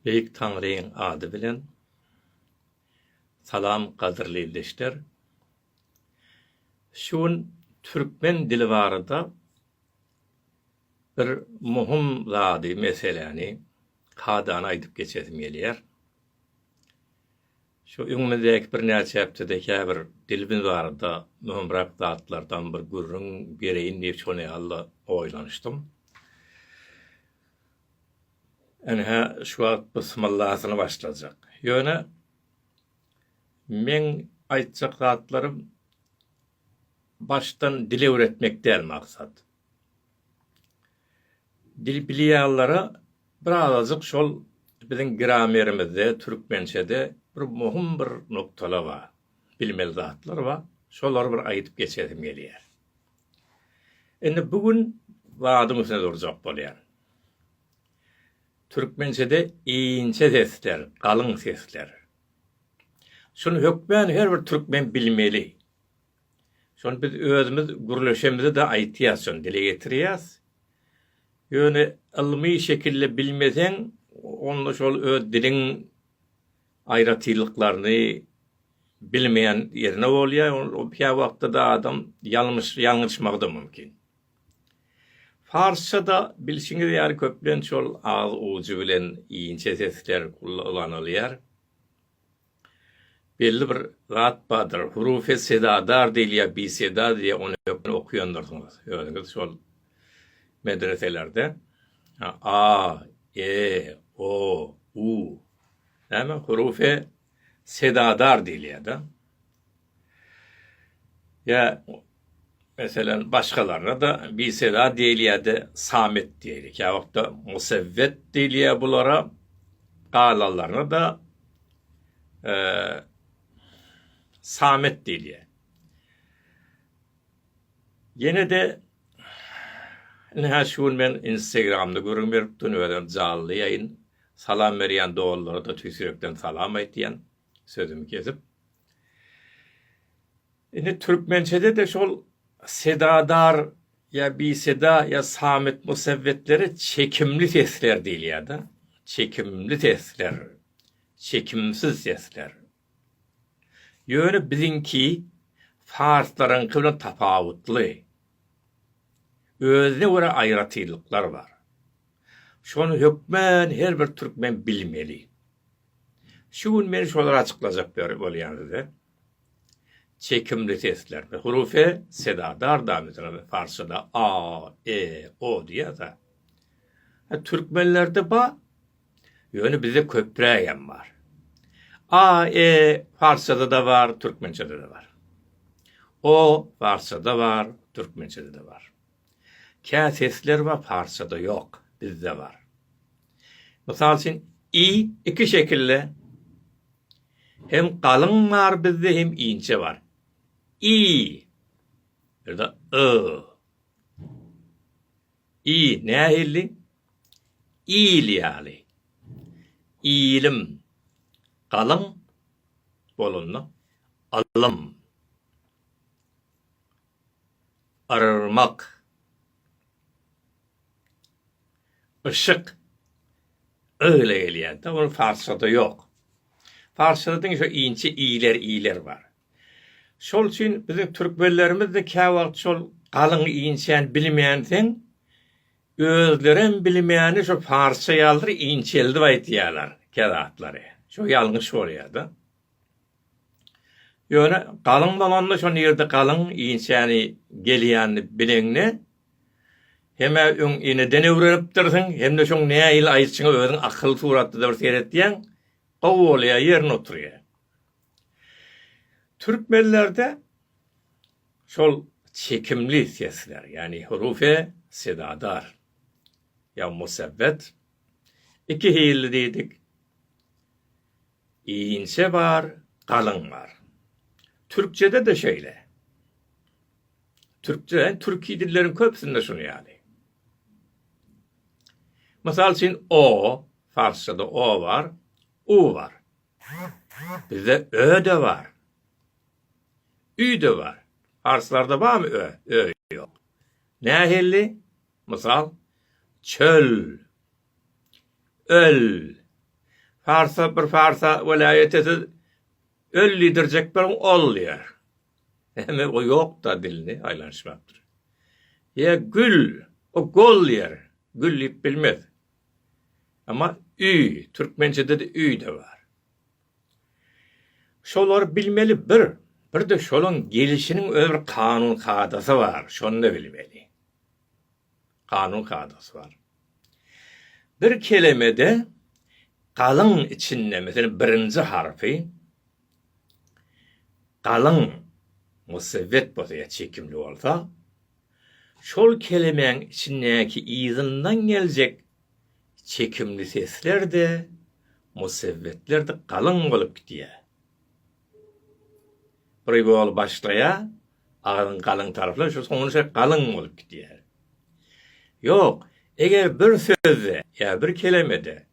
Beýik Taňryň ady bilen salam gadyrly ildeşler! Şu gün türkmen dili barada bir muhym zady, meseläni, kadany aýdyp geçesim gelýär. Şu öňümizdäki birnäçe hepdede käbir dilimiz barada möhümräk zatlardan bir gürrüň bereýin diýip şony ýaly oýlanyşdym. Ynha, şu wagt bysmyllasyny başlajak. Ýöne meň aýtjak zatlarym başdan dil öwretmek däl maksat. Dil bilýänlere bir azajyk şol biziň gramerimizde, türkmençede bir möhüm bir nuktalar bar, bilmeli zatlar bar, şolary bir aýdyp geçesim gelýär. Indi bu gün zadyň üstünde durjak bolýan. Türkmençede inçe sesler, galyň sesler. Şuny hökmän her bir türkmen bilmeli. Şony biz özümiz gürleşemizde-de aýtýas şony, dile getirýäs. Ýöne ylmy şekilde bilmeseň, onda şol öz diliň aýratynlyklaryny bilmeýän ýerine bolýar, ol kä wagtda-da adam ýalňyş, ýalňyşmagy-da mümkin. Farsça-da bilşiňiz ýaly köplenç ol agyz ujy bilen inçe sesler ulanylýar. Belli bir zat bardyr, hurufy sedadar diýilýär, biseda diýýär, ony hökman okaýandyrsyňyz özüňiz şol medreselerde. A, E, O, U. Näme hurufe sedadar diýilýär-de. Ýa, meselem, başgalarynada biseda diýilýär-de, samet diýeýlik. Ýa wagtda musewwet diýilýär bulara. Galanlaryna-da samet diýilýär. Ýene-de ine-hä şu gün men Instagramda gürrüň beripdim, özem janly ýaýyn. Salam berýän doganlara-da tüýs ýürekden salam aýtýan, sözümi kesip. Indi türkmençede-de şol sedadar ýa biseda ýa samit musebbetleri çekimli sesler diýilýär-de. Çekimli sesler, çekimsiz sesler. Ýöne biziňki farslaryňky bilen tapawutly. Özüne görä aýratynlyklar bar. Şony hökman her bir türkmen bilmeli. Şu gün men şolary açyklajak bolýan size. Çekimli sesler. Hurufe seda darda meselem farsçada a, e, o diýýärda. Ha türkmenlerde ba, ýöne bizde köpräk hem bar. A, e farsçada da bar, türkmençede de bar. O farsçada bar, türkmençede de bar. Kä sesler bar parsçada ýok bizde bar. Mysal üçin i iki şekilde hem galyň bar bizde hem inçe bar. I ýa-da y. I nähilli? Il ýaly. Ilim. Galyň bolanda alym. yrmak, yşyk öýle gelýärdi. Ol parsçada ýok. Parsçada diňe şo inçe iler iler bar. Şol üçin biziň türkmenlerimiz-de käwagt şol galyň inçäni bilmänsiň, özlerem bilmäni şo parsça ýalydyr inçeldip aýtýarlar kä zatlary. Şo ýalňyş bolýar-da. Ýöne galyň bolanda şol ýerde galyň inçäni gelýänini bileňde hem-ä öň eneden öwrenipdirsiň hem-de şoň nähili aýdşyňa özüň akyl suratda-da bir seretýäň, gowy bolýar, ýerine oturýar. Türkmenlerde şol çekimli sesler, ýagny hurufe sedadar ýa musebet iki hilli diýdik. Inçe bar, galyň bar. Türkçede-de şeýle. Türkçe, türki dilleriň köpüsinde şuny ýaly. Mysal üçin, o, parsçada o bar, u bar. Bizde ö-de bar. Ü-de bar. Parslarda barmy ö? Ö ýok. Nähilli? Mysal, Çöl, öl. Farsa bir farsa welaýaty siz öl diýdirjek boluň ol diýer. Heme o ýok-da dilini aýlanyşmapdyr. Ýa gül, o gol diýer, gül diýip bilmez. Emma üý, türkmençede-de üý-de bar. Şolary bilmeli bir, bir-de şolaryň gelişiniň öz bir kanun-kadasy bar, şony-da bilmeli. Kanun kadasy bar. Bir kelemede galyň içinde meselem birinji harpy galyň musewwet bolsa ýa çekimli bolsa şol kelemäň içindäki yzyndan geljek çekimli sesler-de, musewwetler-de galyň bolup gidýär. Prikol başlaýar, agzyň galyň taraplar şu soňra galyň bolup gidýär. Ýok, eger bir sözde ýa bir kelemede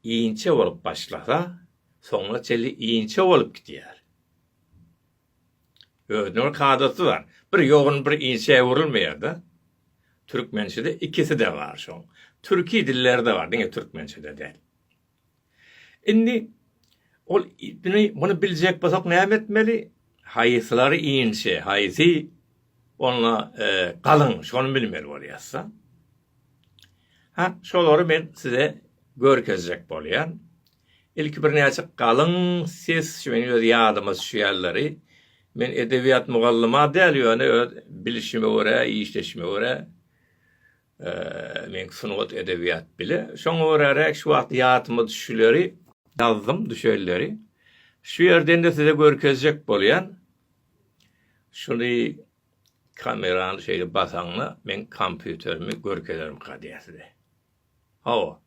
inçe bolup başlasa, soňra çenli inçe bolup gidýär. Özüne bir kadasy bar. Bir ýogyn bir inçä öwrülmeýär-de. Türkmençede ikisi-de bar şoň. Türki dillerde bar, diňe türkmençede däl. Indi ol ýni muny biljek bolsak näme etmeli? Haýsylary inçe, haýsy onda galyň şony bilmeli bolýasda. Ha şolary men size görkezjek bolýan. Ilki birnäçe galyň ses şu men öz ýadyma düşýänleri men edebiýat mugallymad däl ýöne öz bilişime görä işleşime görä Meň sungat edebiýat bile. Şoňa göräräk şu wagt ýadyma düşüleri ýazdym, düşelleri. Şu ýerden-de size görkezjek bolýan. Şuny kamerany şeýle basaňda men kompýuterimi görkezerimka diýýär size. Hawa.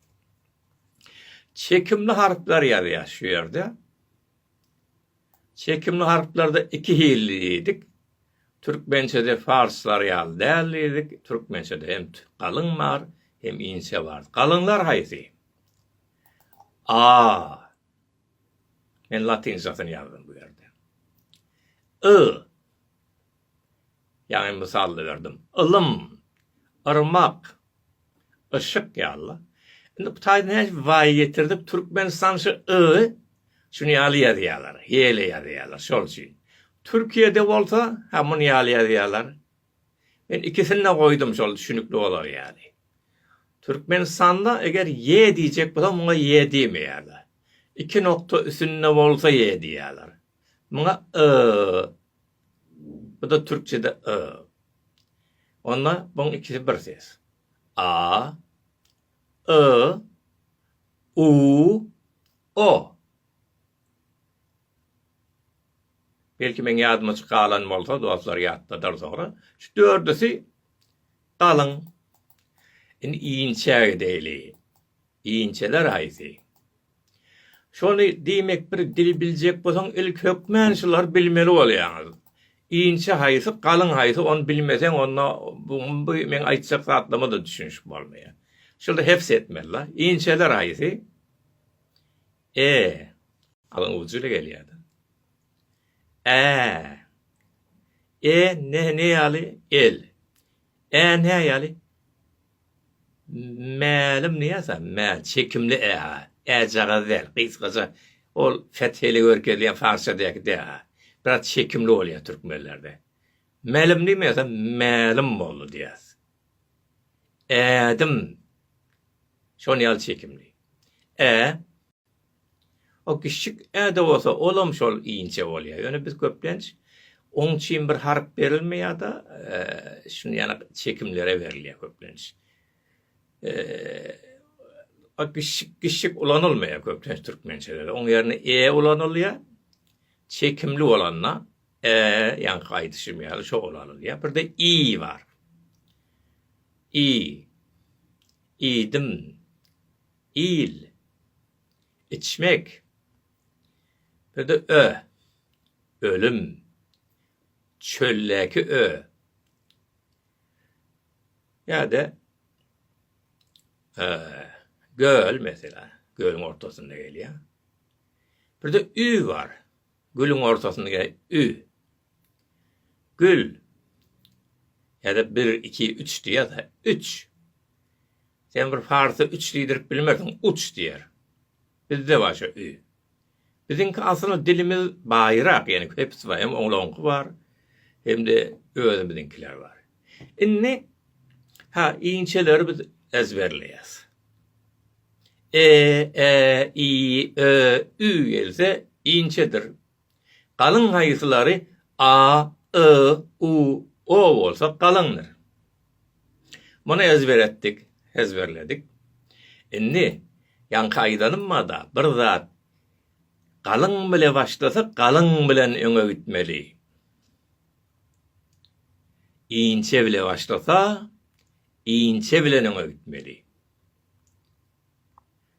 Çekimli harplar ýazýar şu ýerde. Çekimli harplarda iki hilli diýdik. Türkmençede parslar ýaly däl diýdik. Türkmençede hem galyň bar, hem inçe bar. Galyňlar haýsy? A. Men latynçasyny ýazdym bu ýerde. Y. Ýaňy mysalda berdim. Ylym, yrmak, yşyk ýaly. Indi Hytaýda nädip waý getirdik, Türkmenistan şu y-y şuny ýaly ýazýarlar, hýele ýazýarlar, şol üçin. Türkiýede bolsa, hä muny ýaly ýazýarlar. Men ikisini-de goýdum şol düşünikli bolar ýaly. Türkmenistanda eger ýe diýjek bolsaň, muňa ýe diýmeýärler. Iki nokta üstünde bolsa ýe diýýärler. Muňa y Bu-da türkçede y. Onda buň ikisi bir ses. A y u o Belki meň ýadyma çy galan bolsa dostlar ýatladar soňra. Şu dördüsi galyň. Indi inçä gideli. Inçeler haýsy? Şony diýmek bir dil biljek bolsaň ilk hökmän şulary bilmeli bolýaňyz. Inçe haýsy galyň haýsy ony bilmeseň onda bu meň aýtjak zatlama-da düşünişip bolmaýar. Şulda heps etmeli la. Inçeler haýsy? E. Galyň ujy ile gelýärdi. Ä. E ne ne ýaly el. Ä nä ýaly? Mälim näsa, mä, çekimli ä-hä, äjagaz däl, gysgaça, ol fetheli görkezilýän farsçadäki dä-hä, biraz çekimli bolýar türkmenlerde. Mälim diýmese, mälim boldy diýýäs. Ädim, şony ýaly çekimli. Ä, O kiçijik ä-de bolsa, olam şol inçe bolýar. Ýöne biz köplenç oň çyn bir harp berilmeýär-de, şuny ýaly çekimlere berilýär köplenç. O kiçijik, kiçijik ulanylmaýar köplenç türkmençede-de. Oň ýerine e ulanylýar. Çekimli bolanda ä, ýaňky aýdyşym ýaly şo ulanylýar. Bir-de i bar. I. Iýdim. Il. Içmek. Bede ö. Ölüm. Çöldäki ö. Ýa-da ö. Göl, meselem, gölüň ortasynda gelýär. Bir-de ü bar. Gülüň ortasyndaky ü. Gül. Ýa-da bir, iki, üç diýýär-de, üç. Sen bir parsy üç diýdirip bilmersiň, uç diýer. Bizde bar şo ü. Biziňki aslynda dilimiz baýrak, ýagny hepsi bar, hem oňlaryňky bar, hem-de özümiziňkiler bar. Indi ha inçeleri biz ezberleýäs. E, ä, i, ö, ü gelse inçedir. Galyň haýsylary a, y, u, o bolsa galyňdyr. Muny ezber etdik, ezberledik. Indi ýaňky aýdanymmada bir zat galyň bile başlasa galyň bilen öňe gitmeli. Inçe bile başlasa, inçe bilenem öýtmeli.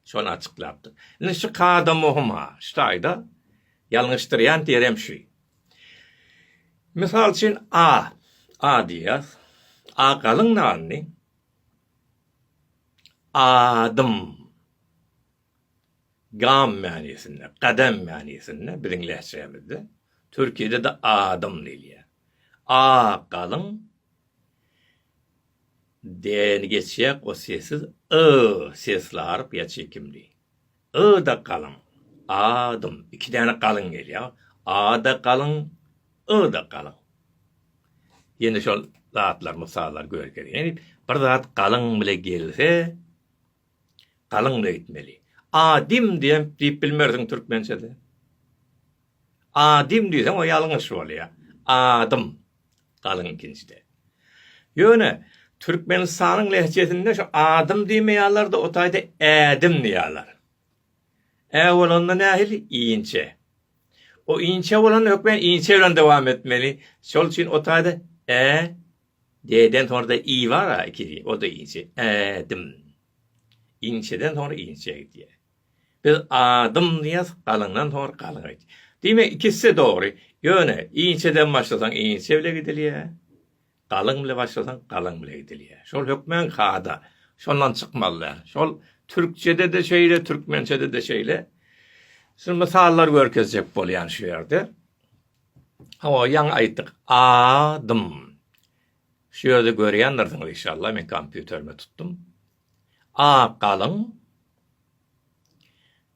Şony açyklapdyk. Indi şu kada möhüm-ha. Şu taýda ýalňyşdyrýan ýerem şu. Mysal üçin, a, a diýýäs. A galyň nandy. Adym. Gam mänisinde, gadam mänisinde biziň lehjämizde, Türkiýede-de adım diýilýär. A galyň D-ni geçýäk o sessiz y ses laryp ýa çekimli. Y-da galyň, adım, iki däne galyň gelýär, a-da galyň, y-da galyň. Ýene şol zatlar, mysallary görkezeýin. Bir zat galyň bile gelse, Galyň neýtmeli? Adym diýem diýip bilmersiň türkmençede. Adym diýseň o ýalňyş bolýar. Adym. Galyň ikinjide. Ýöne Türkmenistanyň lehjesinde şu adym diýmeýärler-de, o taýda ädim diýýärler. Ä bolanda nähili? Inçe. O inçe bolan hökmany inçe bilen dowam etmeli. Şol üçin o taýda ä D-den soňra-da i bar-a ikili, o-da inçe, ädim. Inçeden soňra inçe gidýär. Biz adym diýýäs, galyňdan soňra galyň aýt. Diýmek, ikisi-de dogry. Ýöne, inçeden başlasaň inçe bile gidilýär, galyň bile başlasaň galyň bile gidilýär. Şol hökmän kada. Şondan çykmaly-da. Şol türkçede-de şeýle, türkmençede-de şeýle. Şol mysallar görkezjek bolýan şu ýerde. Hawa ýaňy aýtdyk a dym. Şu ýerde görýändirsiňiz inşallah men kompýuterime tutdum. A galyň.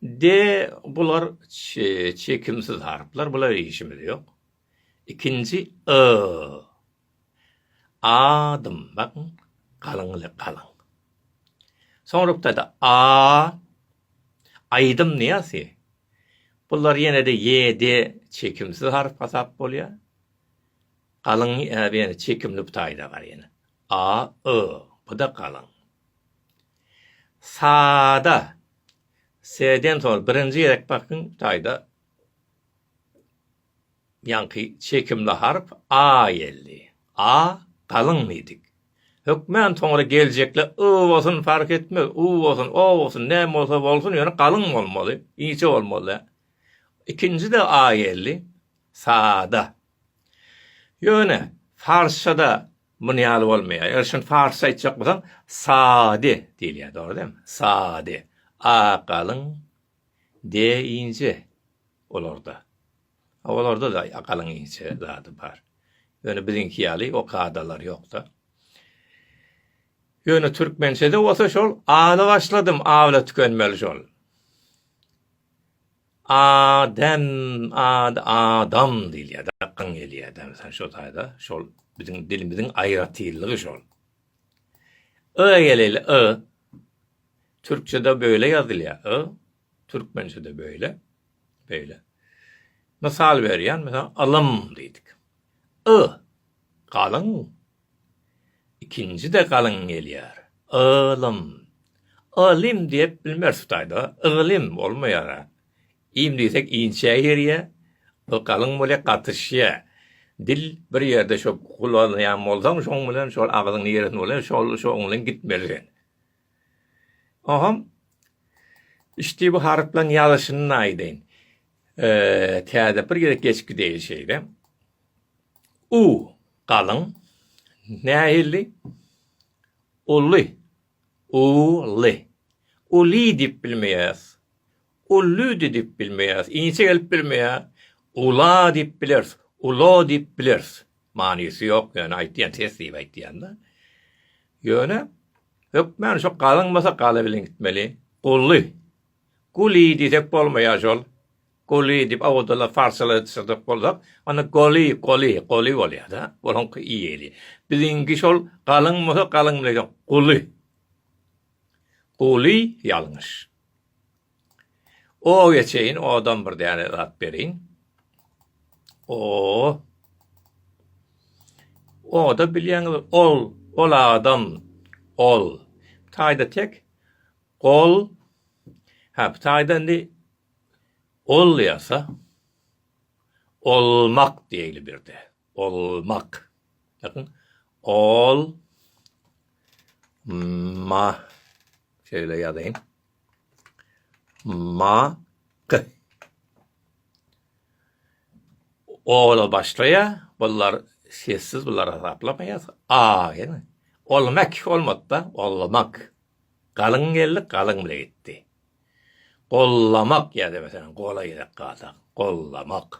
D bular çekimsiz harplar bular işimiz ýok. Ikinji y. A-dym, bakyň, galyň ile galyň. Soňrukda-da A, aýdym diýersi. Bular ýene-de YD çekimsiz harp hasap bolýar. Galyň ýene çekimli bu taýda bar ýene. A-y, bu-da galyň. Sa-da, S-den soň birinji gezek bakyň bu taýda Ýaňky çekimli harp A geldi. A galyň diýdik. Hökman soňra geljekler Y bolsun fark etmez, U bolsun, O bolsun, näme bolsa bolsun ýöne galyň bolmaly, inçe bolmaly. Ikinjide A geldi. Sada. Ýöne farsçada muny ýaly bolmaýar. Eger şuny farsça aýtjak bolsaň sade diýilýär, dogry dälmi? Sade. A galyň, De inje olarda. A olarda-da galyň inje zady bar. Ýöne biziňki ýaly o kadalary ýokda. Ýöne türkmençede bolsa şol A-da başladym A-bile tükenmeli şol. A-dem, ad, adam diýilýär-de akyň gelýär-de meselem şo taýda şol biziň dilimiziň aýratynlygy şol. Y-a geleýli y. Türkçede böyle ýazylýa y, türkmençede böyle, beýle. Mysal berýän, mesalan, ylym diýdik. Y, galyň. Ikinji-de galyň gelýär. Ylym. Ylym diýip bilmeris Hytaýda. Ylym bolmaýar-a. Im diýsek inçä girýä, y galyň bolýa, gatyşýa. Dil bir ýerde şo ulanýan bolsaň, şoň bilen şol agzyň ýerisinde bolýar, şol, şoň bilen gitmeli sen. Ogam Üçti bu harflaryň ýazyşyny naýdeýin. Eee täze bir gezek geçip gideýin şeýle. U galyň. Nähili? Uly. Uly. Uly diýip bilmeýäs. Ully diýip bilmeýäs, inçe gelip bilmeýär. Ula diýip bileris, ulo diýip bileris. Manysy ýok, ýöne aýtýan ses diýip aýtýan-da. Ýöne hökmany şo galynmasa gala bilen gitmeli. Gully. Guly diýsek bolmaýar şol. Guly diýip owadanlar parsça çykarjak bolsak, onda goly, goly, goly bolýar-da. Olaňky i gelýär. Biziňki şol galynmasa galyň bilen gitmek. Guly. Guly ýalňyş. O geçeýin, O-dan bir däne zat bereýin. O. O-da bilýäňiz, ol, ol adam, ol. Taýda tek gol. Hä, bu taýda indi ol ýazsa, olmak diýeli birde. Olmak. Ýakyn. Ol. Ma. Şeýle ýazyň. Ma. K. Ola başlaýa. Bular sessiz bular hasaplamaýas. A. Ýene. Olmak olmatda. Olmak. Galyň geldi, galyň bile gitdi. Gollamak ýa-da meselem gola ýerek galsa. Gollamak.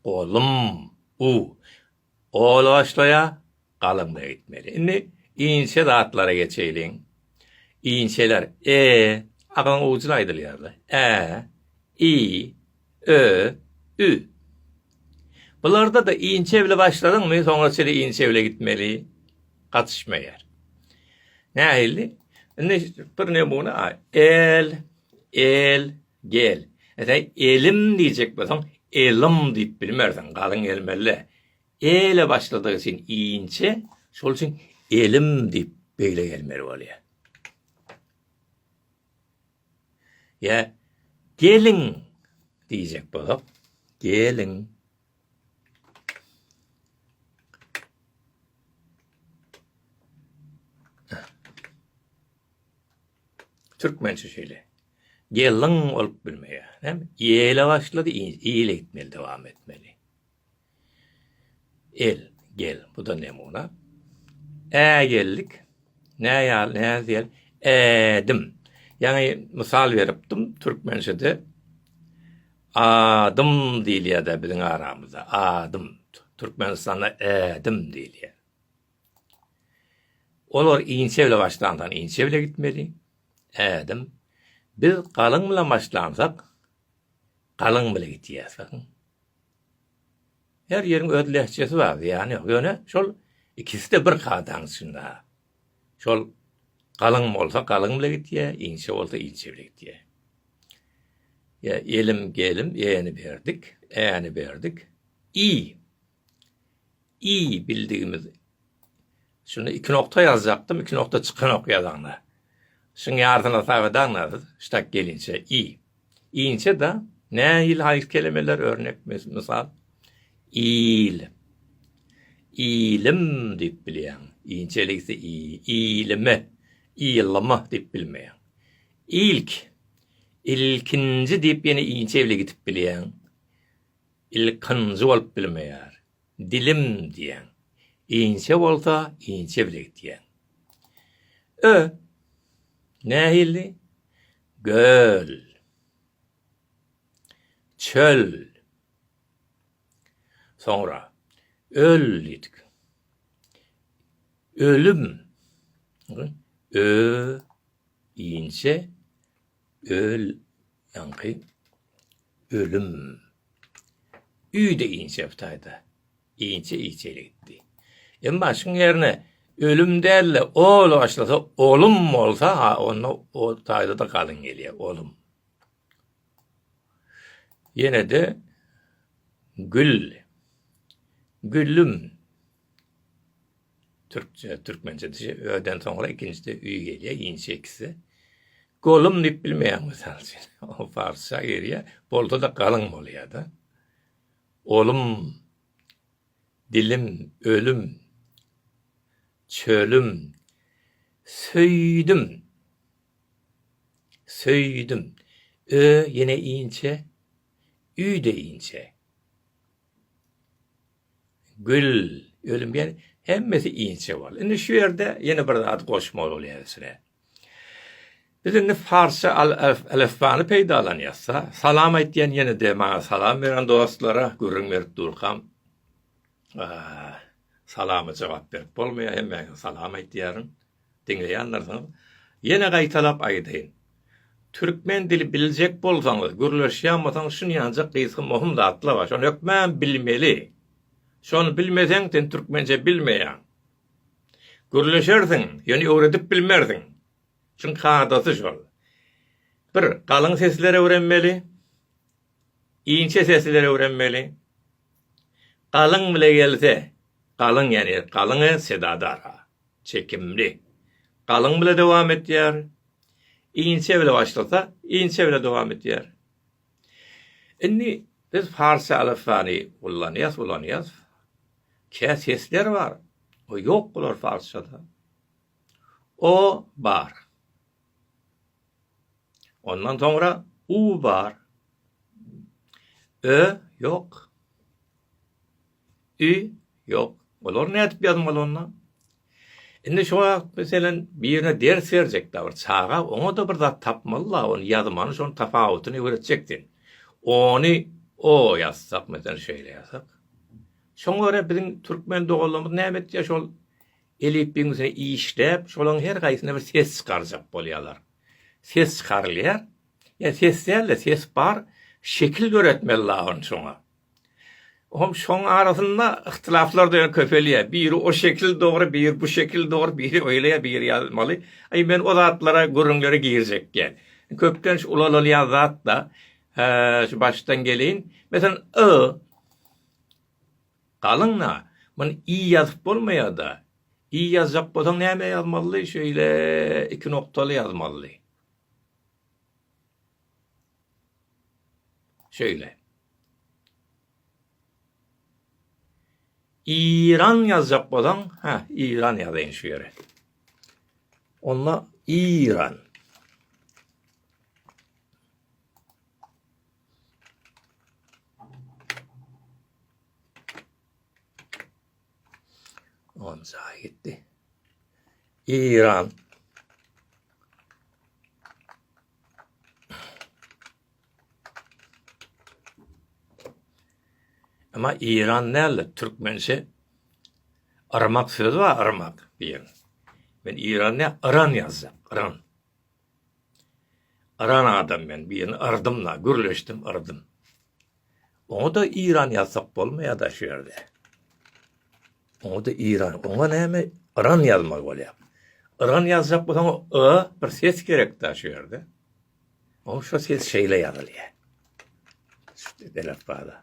Oglum, u, ol başlaýa galyndygy gitmeli. Indi inçe zatlara geçeýliň. Inçeler, e, agyň ujuna aýdylýar-da. Ä, i, ö, ü. Bularda-da inçe bile başladyňmy, soňra çili inçe bile gitmeli. Gatyşmaýar. Nähili? Indi bir nemuna aý. El, el, Gel. Sen elim diýjek bolsaň, elym diýip bilmersiň, galyň elmelle. Ele başladygy üçin inçe, şol üçin elim diýip beýle gelmeli bolýar. Ýa geliň diýjek bolsak, geliň. Türkmençe şeýle. Gelin bolup bilmeýär. Näme? Ýele başlady, il etmeli, dowam etmeli. El, gel, bu-da nemuna. Ä geldik. Nä ýaly, näz diýeli? Ädim. Ýaňy mysal beripdim, türkmençede adym diýilýär-de biziň aramyzda, adym. Türkmenistanda ädim diýilýär. Olar inçe bile başlandan inçe bile gitmeli. Ädim, biz galyň bilen başlansak, galyň bile gidýäs. Her ýeriň öz lehjesi bar, zyýany ýok. Ýöne şol ikisi-de bir kadaň içinde. Şol galyň bolsa galyň bile gitýä, inçe bolsa inçe bile gitýä. Ýa elim gelim, eni berdik, äni berdik. I. I bildigimiz. Şunda iki nokta ýazjakdym, iki nokta çykanok ýazanda. Şuň ýarysyny hasap edaňda siz, ştak gelinçe, i. Inçe da, nähili haýsy kelimeler örnek, mysal? Il. Ilim diýip bilýäň. Inçelikdi i. Ilime. Ýylyma diýip bilmeýäň. Ilk. Ilkinji diýip ýene inçe bile gidip bilýäň. Ilkinji bolup bilmeýär. Dilim diýýäň. Inçe bolsa inçe bile gitýäň. Ö. Nähili? Göl. Çöl. Soňra öl diýdik. Ölüm. Ö. Inçe. Öl, ýaňky, ölüm. Üýde inçe bu taýda. Inçe iýçeli gitdi. Emma şuň ýerine ölüm däl-de, ol başlasa, olum bolsa, ha, onda o taýda-da galyň gelýär, olum. Ýene-de gül. Güllüm. Türkçe, türkmençe dişi öden soňra ikinjide üy gelýär, inçe ikisi. Golum diýip bilmeýär mysal üçin. O farsça girýär, bolsa-da galyň bolýar-da. Olum, dilim, ölüm, çölüm, söýdüm, söýdüm. Ö ýene inçe, üý-de inçe. Gül, ölüm ýer, hemmesi inçe boldy. Indi şu ýerde ýene bir zat goşmaly bolýar içine. Biz indi parsça alifbany peýdalanýas-da. Salam aýtýan ýene-de maňa salam beren dostlara, gürrüň berip durkam, salama jogap berip bolmaýar, hemmäňize salam aýdýaryn. Diňleýändirsiňiz. Ýene gaýtalap aýdaýyn. Türkmen dili biljek bolsaňyz, gürleşýän bolsaňyz düşünýänjik gysga möhüm zatlar bar. Şony hökman bilmeli. Şony bilmeseň sen türkmençe bilmeýäň. Gürleşersiň, ýöne öwredip bilmersiň. Şuň kadasy şol. Bir, galyň sesleri öwrenmeli. Inçe sesleri öwrenmeli. Galyň bile gelse, galyň ýani galyňy sedadar ha. Çekimli. Galyň bile dowam etýär. Inçe bile başlasa, inçe bile dowam etýär. Indi biz parsça alyfbany gullanýas, ulanýas. Kä sesler bar. O ýok bular parsçada. O bar. Ondan soňra u bar. Ö ýok. Ü ýok. Olary nädip ýazmaly onda? Indi şu wagt, meselem, birine ders berjekdä bir çaga, oňa-da bir zat tapmaly-la, ony ýazmany, şonuň tapawutyny öwretjek sen. Ony o ýazsak, meselem, şeýle ýazsak. Şoňa görä biziň türkmen doganlarymyz näme etýär, şol Elipbiň üstüne işläp, şolaň her haýsyna bir ses çykarjak bolýarlar. Ses çykarylýar. Ýa ses däl-de, ses bar, şekil döretmeli laony şoňa. Hom şoň arasynda yhtylaflar da köpelýär. Biri o şekil dogry, biri bu şekil dogry, biri öýle, biri ýazmaly. Aý men o zatlara gürrüňlere girjek däl. Köplenç ulanylýan zat-da, şu başdan geleýin. Meselem, y. Galyňa, muny i ýazyp bolmaýada. I ýazjak bolsaň näme ýazmalydy, şeýle iki noktaly ýazmalydy. Şeýle. Iran ýazjak bolsaň, hä, Iran ýazaýyn şu ýere. Onda Iran. On jaý gitdi. Iran. Ama İran nerede? Türkmençe Armak sözü var Armak diyen. Ben İran ne? Iran yazacak. Iran. Yran adam men birini yrdymda gürleşdim yrdym. Oňada Iran ýazsak bolmaýada şu ýerde. Oňada Iran oňa näme Yran ýazmaly bolýa. Yran ýazjak bolsaň y bir ses gerekda şu ýerde. Oň şo ses şeýle ýazylýa. Şu telefada.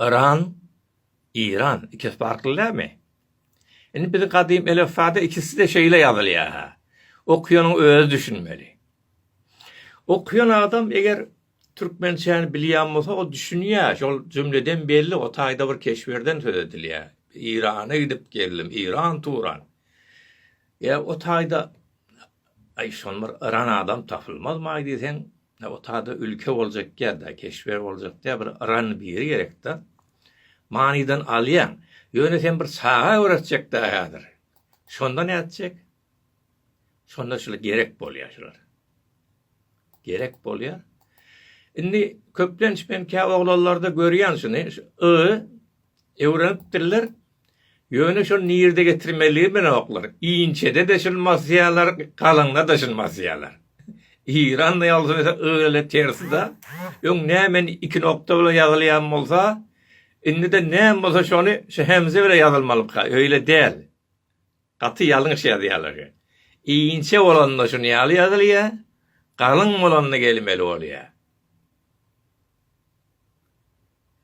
Yran, Iran, ikisi farkly dälmi? Indi bizi gadym elifbada ikiside şeýle ýazylýar ha. Okuyanyň özi düşünmeli. Okuyan adam eger türkmençäni bilýän bolsa o düşünýä şol jümleden belli o taýda bir keşberden söz edilýä. Irana gidip geldim, Iran, Turan. Ýa o taýda Aý şon bir yran adam tapylmaz maý diýseň otada ülke boljak ýada keşwer boljak dä bir yran biri gerek da manydan alýaň ýöne sen bir çaga öwretjek dä häzir şonda nätjek şonda şular gerek bolýa şular gerek bolýa indi köplenç men kä oglanlarda görýän şuny y Öwrenipdirler. Ýöne şol nirde getirmeligi bilenoklar. Inçede-de şul masýalar, galyňda-da şul masýalar. Eýran-da ýagylsa bolsa öýle tersi-da. Öň näme iki nokta bilen ýazylýan bolsa, indi-de näme bolsa şony şu hemze bilen ýazylmalyka. Öýle däl. Gaty ýalňyş ýazýarlar. Inçe bolanda şuny ýaly ýazylýar, galyň bolanda gelmeli bolýar.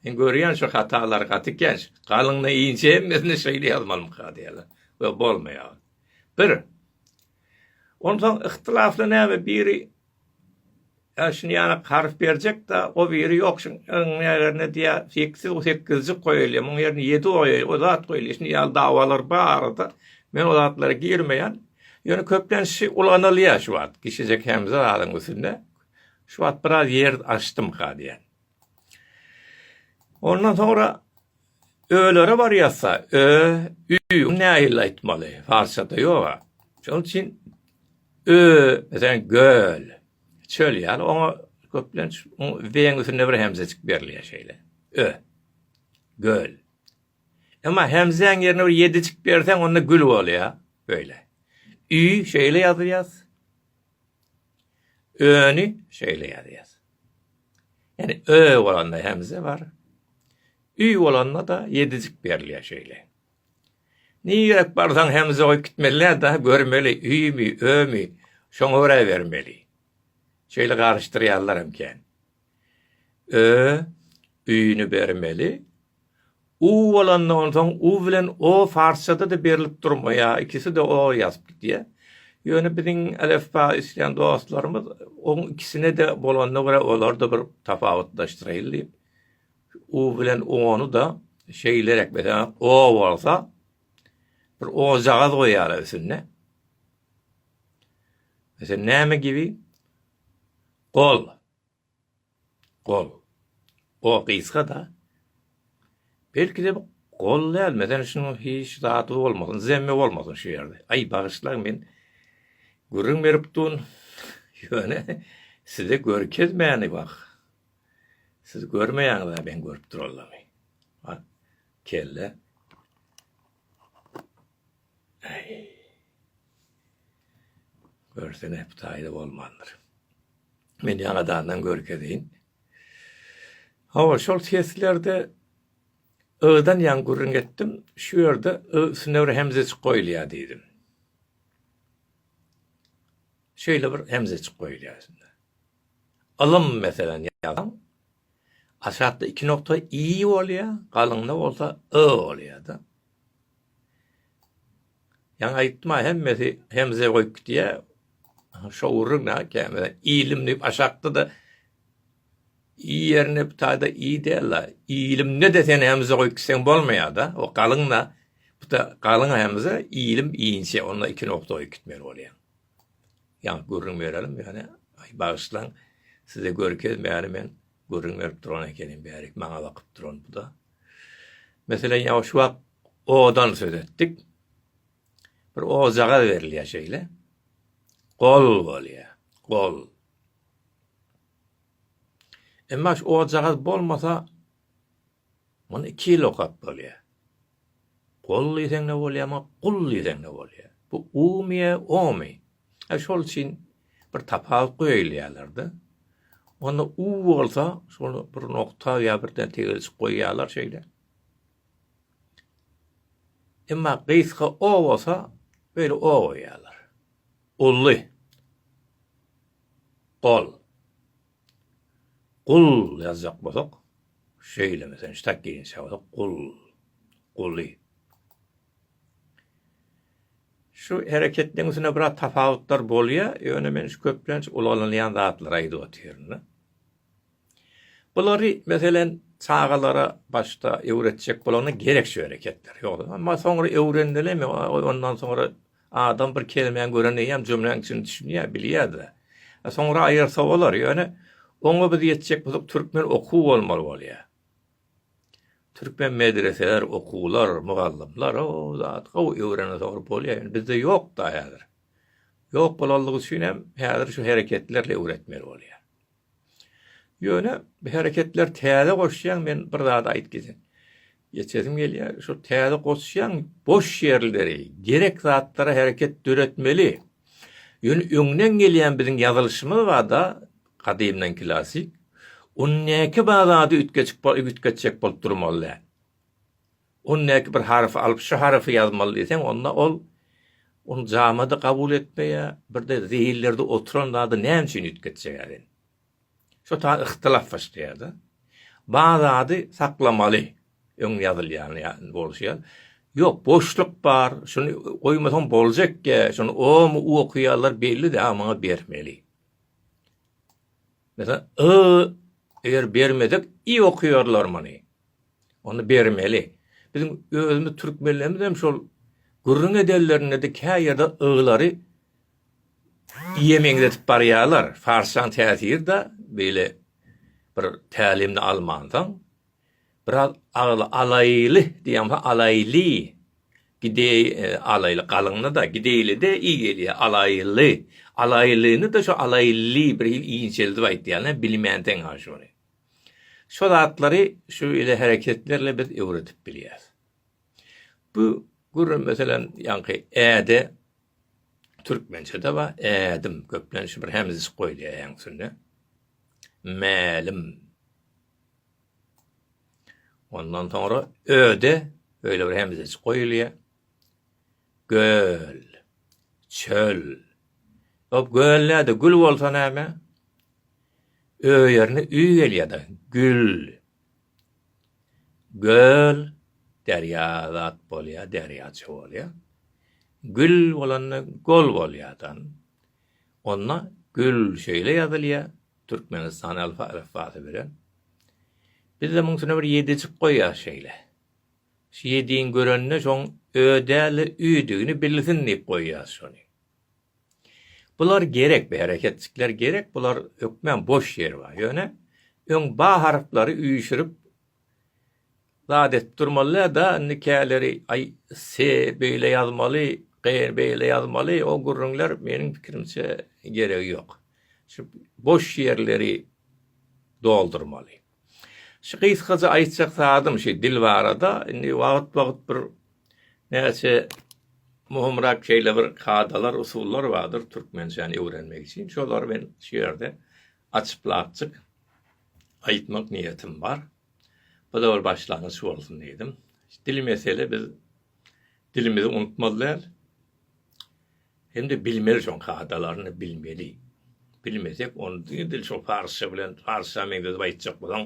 Men görýän şu hatalar gaty keç, galyňyna inçe hemmesini şeýle ýazmalymyka diýýärler. Ýok bolmaýar. Bir. Onsoň yhtylafly näme biri ýa şuny ýanak harf berjek da o biri ýok şuň yň ýerine diýýä sekiz sekizjik goýalýa muň ýerine ýedi goýaý o zat goýly şuny ýaly dawalar barada men o zatlara girmeýän ýöne köplenç şu ulanylýa şu wagt kişijek hemze adyň üstünde Şu wagt biraz ýer açdymka diýen. Ondan soňra ölere barýarsa, ö, ü, nähili aýtmaly? Farsçada ýok. Şonuň üçin ö, sen göl, çöl ýaly oňa köplenç zeýň üstünde bir hemzejik berilýär şeýle. Ö. Göl. Emma hemzäň ýerine bir ýedijik berseň, onda gül bolýar. Böyle. Ü şeýle ýazýas. Öni şeýle ýazýas. Ýani ö bolanda hemze bar. Ü bolanda-da ýedijik berilýär şeýle. Nirek barsaň hemze goýup gitmelidä görmeli üými, ömi şoňa görä bermeli. Şeýle garyşdyrýarlar hem kän. Ö üýni bermeli, U bolanda onsoň u bilen o farsçada-da berilip durmaýa, ikisi-de o ýazyp gidýä. Ýöne biziň Elefba isleýän dostlarymyz oň ikisine-de bolanyna görä olar-da bir tapawutlaşdyraýyl diýip, u bilen o-ny-da şeýleräk meselem o bolsa bir ojagaz goýýarlar üstünde. Meselem näme gibi? Gol. Gol. O gysga-da. Belki-de bu gol däl, meselen, şunuň hiç zady bolmasyn, zemme bolmasyn şu ýerde. Aý, bagyşlaň, men gürrüň berip durun, ýöne size görkezmäni wah. Siz görmeýäňiz-ä meň görüp duranlarymy. Kelle. Äý. Görsene bu taýda bolmandyr. Men ýaňadandan görkezeýin. Hawa, şol seslerde y-dan ýaňa gürrüň etdim. Şu ýerde y üstüne bir hemzeçik goýulýar diýdim. Şeýle bir hemzeçik goýulýar üstüne. Ylym meselem ýazaň. Aşakda iki nokta i bolýar, galyňda bolsa y bolýar-da. Ýaňy aýtma hemmesi hemze goýup gitýä şo urruň da kämä ilim diýip aşakda-da i ýerine bu taýda i däl-a ilimde-de sen hemze goýup gitseň bolmaýa-da o galyň-da bu ta galyň hemze ilim inçe onda iki nokta goýup gitmeli bolýa ýaňky gürrüň berelim ýöne bagyşlaň size görkezmäni men Gürrüň berip duran ekenim bärik maňa bakyp duran buda. Meselem ýa şu wagt odan söz etdik. Bir ojaga berilýär şeýle. Gol bolýar. Gol. Emma şu ojagaz bolmasa Muny iki ýyl okap bolýar. Gol diýseň-de bolýar, emma gul diýseň-de bolýar. Bu u-myýa, o-my? Hä, şol üçin bir tapawut goýulýarlar-da. Onda u bolsa, şol bir nokta ýa birden tegelşik goýýarlar şeýle. Emma gysga o bolsa, beýle o goýýarlar. Uly. Gol. Gul ýazjak bolsak, şeýle meselem ştat girinýşä bolsak, gul, guly. Şu hereketleň üstünde biraz tapawutlar bolýar, ýöne men şu köplenç ulanylýan zatlary aýdyp otyryn-da. Bulary, meselem, çagalara başda öwretjek bolanda gerek şu hereketler. Ýogsa, soňra öwrenilende, ondan soňra Adam bir kelimäň görendeýem jümläň içini düşünýär, bilýär-de. Soňra aýyrsa bolar, ýöne oňa biz ýetjek bolsak türkmen okuw bolmaly bolýar. Türkmen medreseler, okuwlar, mugallymlar, o zat gowy öwrene sowrup bolýar, ýöne bizde ýok-da häzir. Ýok bolanlygy üçinem häzir şu hereketlerle öwretmeli bolýar. Ýöne bu hereketler täze goşýaň men bir zady aýt giden geçesim gelýä şo täze goşýaň boş ýerleri gerek zatlara hereket döretmeli ýöne öňden gelýän biziň ýazylyşymyz barda gadymdan klasik ony näki bar zady üýtgetjek bolup üýtgetjek bolup durmaly däl Ondäki bir harpy alyp şu harpy ýazmaly diýseň onda ol ony jamady kabul etmeýä birde zeýillerde oturan zady näme üçin üýtgetjegä sen. Şo ta yhtylaf başlaýada. Bar zady saklamaly öň ýazylýan ýaly bolşy ýaly. Ýok boşluk bar şuny goýmasaň boljak ýa şuny o mu u okaýarlar belli däl a maňa bermeli. Meselem y eger bermesek i okaýarlar muny. Ony bermeli. Biziň özümiz türkmenlerimizem şol gürrüň edenlerinde-de käýerde y-lary y-ýa meňzedip barýarlar. Farsçanyň täsiri-de beýle bir tälimini almansoň, biraz agzy alaýly diýen wagt alaýly, gideý, alaýly galyňda-da, gideýli-de y gelýär, alaýly. Alaýlyny-da şo alaýly birhili inçeldip aýdýarlar, bilmänsiň-ha şony. Şo zatlary şu ile hereketlerle biz öwredip bilýäs. Bu gürrüň meselem ýaňky äde türkmençede bar, ädim, köplenç bir hemzejik goýulýar äň üstünde. Mälim. Ondan soňra öde öýle bir hemzejik goýulýar. Göl. Çöl. Hop, göl näde, gül bolsa näme? Ö ýerine ü gelýär-de, gül. Göl, derýa zat bolýar, derýaça bolýar. Gül bolanda gol bolýar-da. Onda gül şeýle ýazylýar, Türkmenistan alfa-alifbasy bilen. Biz-de muň üstüne bir ýedijik goýýarys şeýle. Şiýediň görende şoň ödäli üýdügini bilsin diýip goýýas şony. Bular gerek bi hereketjikler gerek bular hökmän boş ýeri bar ýöne öň ba harplary üýşürip zat edip durmalydada indi käleri aý se beýle ýazmaly ge beýle ýazmaly o gürrüňler meniň pikirimçe geregi ýok. Şu boş ýerleri doldurmaly. Şu gysgaja aýtjak zadym şu dil barada, indi wagt-wagt bir näçe möhümräk şeýle bir kadalar, usullar bardyr türkmençäni öwrenmek üçin. Şolary men şu ýerde açyplapjyk aýtmak niýetim bar. Bu-da bir başlangyç bolsun diýdim. Dil mesele biz dilimizi unutmaly däl. Hem-de bilmeli şoň kadalaryny bilmeli. Bilmesek ony diňe dil şol parsça bilen parsça meňzedip aýtjak bolaň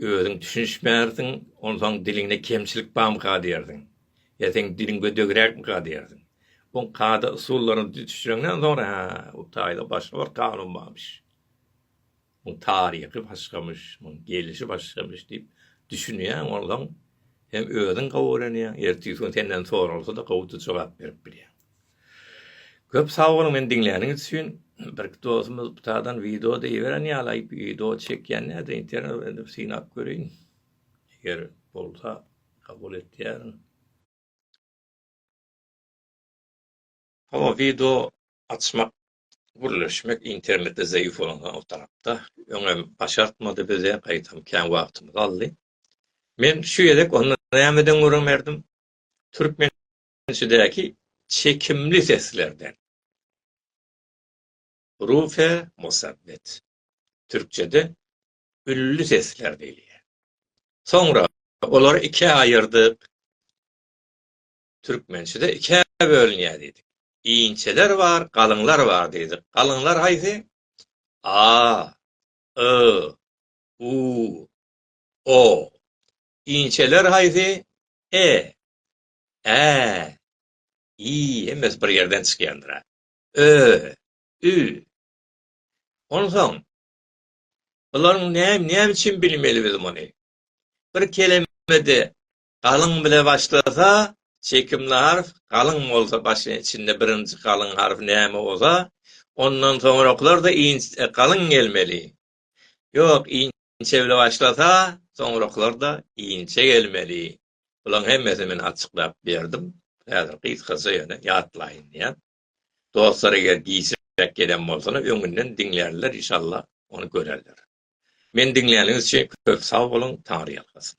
özüň düşünişmärsiň onsaň diliňde kemçilik barmyka diýersiň. Ýa seň diliň gödegräkmika diýersiň. Oň kada usullaryny düşüreňden soňra hä bu taýda başga bir kanun barmyş. Muň taryhy başgamyş, muň gelişi başgamyş diýip düşünýäň, onsoň hem özüň gowy öwrenýäň, ertesi gün senden soralsa-da gowy-da jogap berip bilýäň. Köp sag boluň meni diňläniňiz üçin. Birki dostumyz bu taýdan wideo diýiberen ýaly aýp wideo çekýän nädip internetde synap göreýin. Eger bolsa kabul etýärin. Hava wideo açmak gürleşmek internetde zeýif bolanda o tarapda öňem başartmady bize gaýtam kän wagtymyz aldy. Men şu gezek onda nämeden gürrüň berdim? Türkmençedäki çekimli seslerden. Rufe musabbet. Türkçede ülli sesler diýilýär. Soňra olary ikä aýyrdyk. Türkmençede ikä bölünýär diýdik. Inçeler bar, galyňlar bar diýdik. Galyňlar haýsy? A, y, u, o. Inçeler haýsy? E, ä, i hemmesi bir ýerden çykýandyr. Ö, ü. Onsoň bularyň näme üçin bilmeli biz muny? Bir kelimede Galyň bile başlasa, çekimli harf galyň bolsa başy içinde birinji galyň harf näme oza, ondan soňraklar-da in galyň gelmeli. Ýok, in inçe bile başlasa, soňraklar-da inçe gelmeli. Bulaň hemmesini men açyklap berdim. Häzir gysgaça ýöne ýatlaýyn diýýän. Dostlar eger giçräk gelen bolsalar, öňünden diňlärler inşallah, ony görerler. Meni diňläniňiz üçin köp sag boluň, Taňry ýalkasyn!